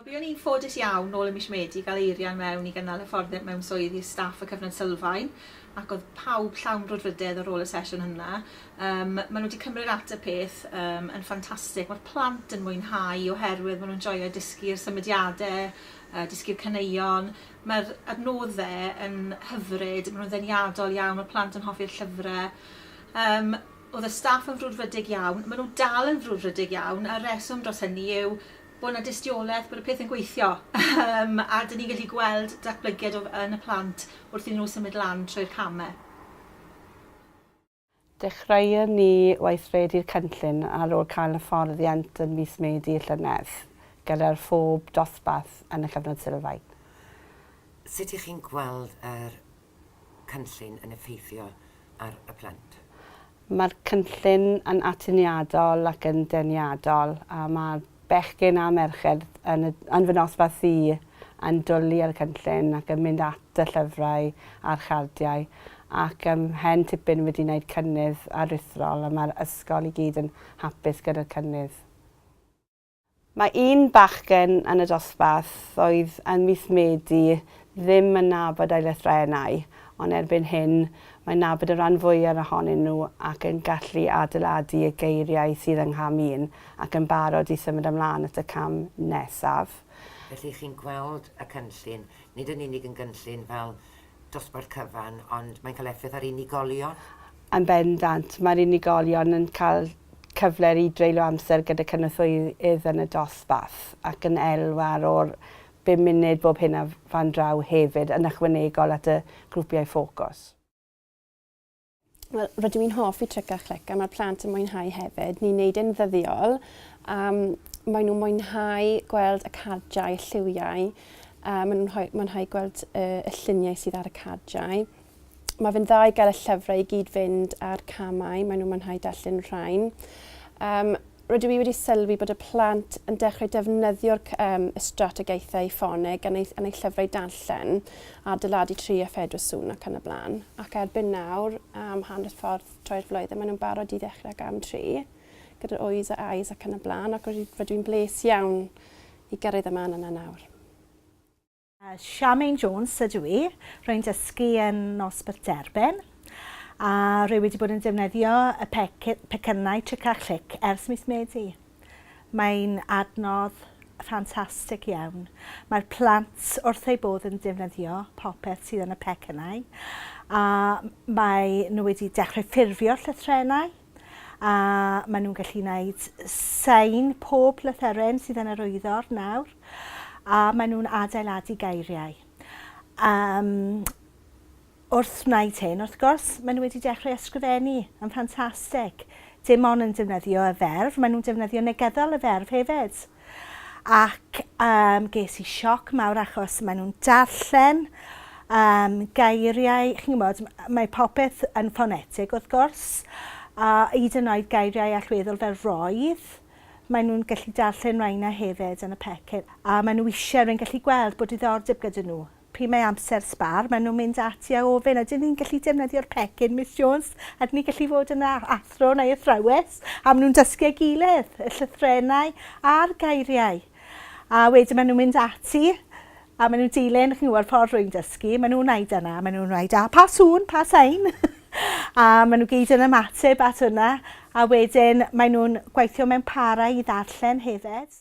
Wel, buon ni'n ffodus iawn nôl ym mis Medi gael eirian mewn i gynnal hyfforddiant mewn swydd i'r staff y Cyfnod Sylfaen ac oedd pawb llawn brwdfrydedd ar ôl y sesiwn hynna. Um, maen nhw wedi cymryd at y peth um, yn ffantastig. Mae'r plant yn mwynhau oherwydd maen nhw'n joio dysgu'r symudiadau yy dysgu'r caneuon. Mae'r adnodde yn hyfryd, ma' nw'n ddeniadol iawn, ma' plant yn hoffi'r llyfre. Yym o'dd y staff yn frwdfrydig iawn. Ma' nw dal yn frwdfrydig iawn a'r reswm dros hynny yw bo' 'na dystioleth bod y pethe'n gweithio yym a 'dyn ni'n gallu gweld datblygiad o f- yn y plant wrth iddyn nw symud lan trwy'r came. Dechreuon ni weithredu'r cynllun ar ôl cael hyfforddiant yn mis Medi y llynedd, gyda'r phob dosbarth yn y Cyfnod Sylfaen. Sut y'ch chi'n gweld yr cynllun yn effeithio ar y plant? Mae'r cynllun yn atyniadol ac yn deniadol a mae Bechgyn a merched yn y yn fy nosbarth i yn dwli ar y cynllun ac yn mynd at y llyfrau a'r chardiau ac ym mhen tipyn wedi wneud cynnydd aruthrol a mae'r ysgol i gyd yn hapus gyda'r cynnydd. Mae un bachgen yn y dosbarth oedd ym mis Medi ddim yn nabod eu llythrennau, ond erbyn hyn, mae'n nabod y rhan fwyaf ohonyn nhw ac yn gallu adeiladu y geiriau sydd yng ngham un ac yn barod i symud ymlaen at y cam nesaf. Felly, chi'n gweld y cynllun, nid yn unig yn gynllun fel dosbarth cyfan, ond mae'n cael effaith ar unigolion? Yn bendant, mae'r unigolion yn cael cyfle i dreulio amser gyda cynorthwyydd yn y dosbarth ac yn elwa ar ôl bum munud bob hyn a fan draw hefyd, yn ychwanegol at y grwpiau ffocws. Wel, rydw i'n hoffi Tric a Chlic a mae'r plant yn mwynhau hefyd. Ni'n neud e'n ddyddiol a maen nhw'n mwynhau gweld y cardiau, y lliwiau, a maen nhw'n mwynhau gweld y, y lluniau sydd ar y cardiau. mae fe'n dda i gael y llyfrau i gyd fynd a'r camau, maen nhw'n mwynhau darllen rhain. Um, rydw i wedi sylwi bod y plant yn dechrau defnyddio'r um, strategaethau ffoneg yn ei, yn ei llyfrau darllen a dyladu 3 a 4 sŵn ac yn y blaen. Ac erbyn nawr, am hanner ffordd troi'r flwyddyn, maen nhw'n barod i ddechrau ag am 3 gyda'r oes a ais ac yn y blaen, ac rydw i'n bles iawn i gyrraedd y man yna nawr. Charmaine Jones ydw i, rwy'n dysgu yn Nos Bwrdd Derben a rwy wedi bod yn defnyddio y pecynnau Tric a Chlic ers mis Medi. Mae'n adnodd ffantastig iawn. Mae'r plant wrth eu bodd yn defnyddio popeth sydd yn y pecynnau a maen nhw wedi dechrau ffurfio llythrennau. a maen nhw'n gallu gwneud sain pob llythyren sydd yn yr wyddor nawr, a maen nhw'n adeiladu geiriau. Um, wrth wneud hyn, wrth gwrs, maen nhw wedi dechrau ysgrifennu yn ffantastig. Dim ond yn defnyddio y ferf, maen nhw'n defnyddio negyddol y ferf hefyd. ac yym ges i sioc mawr achos maen nhw'n darllen um, geiriau, chi'n gwybod, mae popeth yn ffonetig wrth gwrs, a hyd yn oed geiriau allweddol fel roedd, maen nhw'n gallu darllen rhain a hefyd yn y pecyn, a maen nhw eisiau rwy'n gallu gweld bod diddordeb gyda nhw. Pryd mae amser sbâr, maen nhw'n mynd ati a ofyn, ydyn ni'n gallu defnyddio'r pecyn, Miss Jones? Ydyn ni'n gallu fod yn athro neu athrawes? A maen nhw'n dysgu ei gilydd, y llythrennau a'r geiriau. A wedyn maen nhw'n mynd ati a maen nhw'n dilyn, chi'n gwybod, ffordd rwy'n dysgu. Maen nhw'n wneud yna, maen nhw'n dweud, a pa sŵn, pa sain? a maen nhw gyd yn ymateb at hwnna. A wedyn maen nhw'n gweithio mewn parau i ddarllen hefyd.